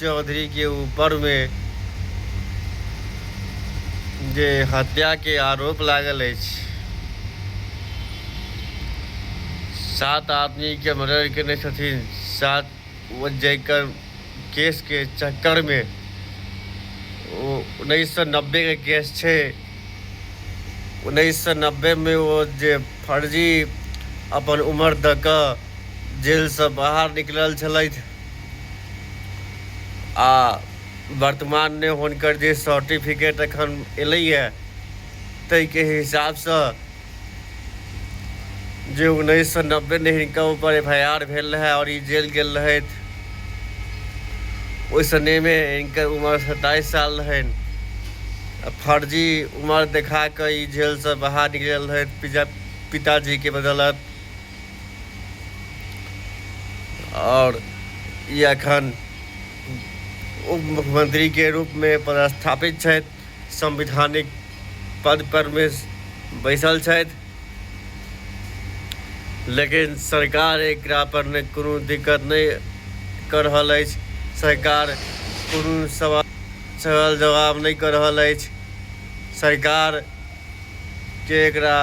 चौधरी के ऊपर मे जे हत्या के आरोप लागल अछि, सात आदमी के मर्डर केने छथिन, सात ओ जकर केस के चक्कर मे ओ उन्नैस सौ नब्बे के केस छै, उन्नैस सौ नब्बे मे ओ जे फर्जी अपन उमर द क जेल स बाहर निकलल छलथि। आ वर्तमानमे हुनकर जे सर्टिफिकेट एखन एलैए ताहिके हिसाबसँ जे उन्नैस सए नब्बेमे हिनका ऊपर एफ आई आर भेल रहए आओर ई जेल गेल रहथि ओहि समयमे हिनकर उम्र सत्ताइस साल रहनि फर्जी उम्र देखा कऽ ई जेलसँ बाहर निकलल रहथि पिता पिताजीके बदौलत आओर ई एखन उप मुख्यमंत्रीके रूपमे पदस्थापित छथि संवैधानिक पद परमे बैसल छथि लेकिन सरकार एकरा पर नहि कोनो दिक्कत नहि कऽ रहल अछि सरकार कोनो सवाल सवाल जवाब नहि कऽ रहल अछि सरकार जे एकरा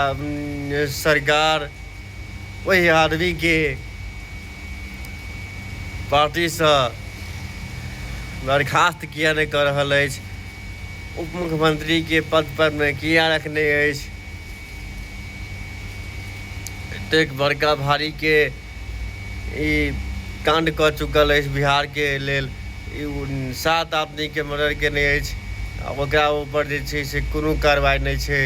सरकार ओहि आदमीके पार्टीसँ बर्खास्त किया नहि कऽ रहल अछि उप मुख्यमंत्रीके पद पर मे किया रखने अछि एतेक बड़का भारीके ई काण्ड कऽ चुकल अछि बिहारके लेल ई सात आदमीके मर्डर केने अछि आ ओकरा ऊपर जे छै से कोनो कार्रवाई नहि छै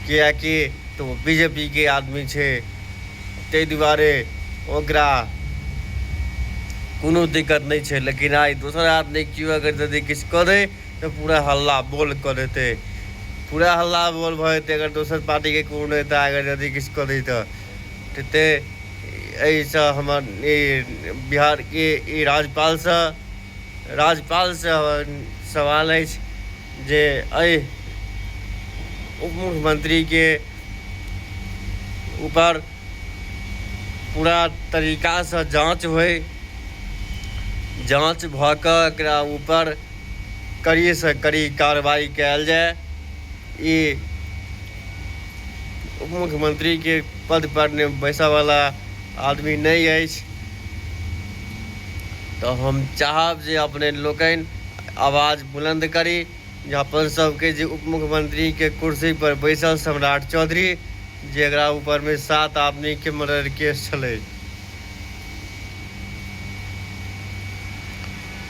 किएकि तऽ ओ बी जे पी के आदमी छै ताहि दुआरे ओकरा कोनो दिक्कत नहि छै लेकिन आइ दोसर आदमी केओ अगर यदि किछु कऽ दै तऽ पूरा हल्ला बोल कऽ देतै पूरा हल्ला बोल भऽ जेतै अगर दोसर पार्टीके कोनो नेता अगर यदि किछु कऽ दै तऽ तैं एहिसँ हमर ई बिहारके ई राज्यपालसँ राज्यपालसँ हमर सवाल अछि जे एहि उप मुख्यमन्त्रीके ऊपर पूरा तरीकासँ जाँच होइ जाँच भऽ कऽ एकरा ऊपर कड़ीसँ कड़ी कार्रवाइ कयल जाय ई उपमुख्यमंत्रीके पद पर बैसऽ वाला आदमी नहि अछि तऽ हम चाहब जे अपने लोकनि आवाज बुलंद करी जे अपन सबके जे उपमुख्यमंत्रीके कुर्सी पर बैसल सम्राट चौधरी जेकरा ऊपरमे सात आदमीके मर्डर केस छलै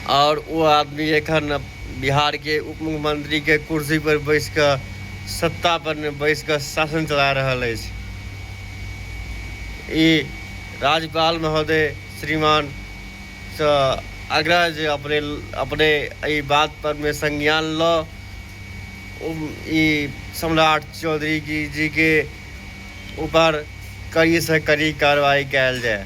आओर ओ आदमी एखन बिहारके उप मुख्यमंत्रीके कुर्सीपर बैस कऽ सत्तापर बैस कऽ शासन चला रहल अछि ई राज्यपाल महोदय श्रीमान सँ आग्रह जे अपने अपने एहि बातपर मे संज्ञान लऽ ई सम्राट चौधरी जी जीके उपर कड़ी सँ कड़ी कार्रवाई कएल जाए।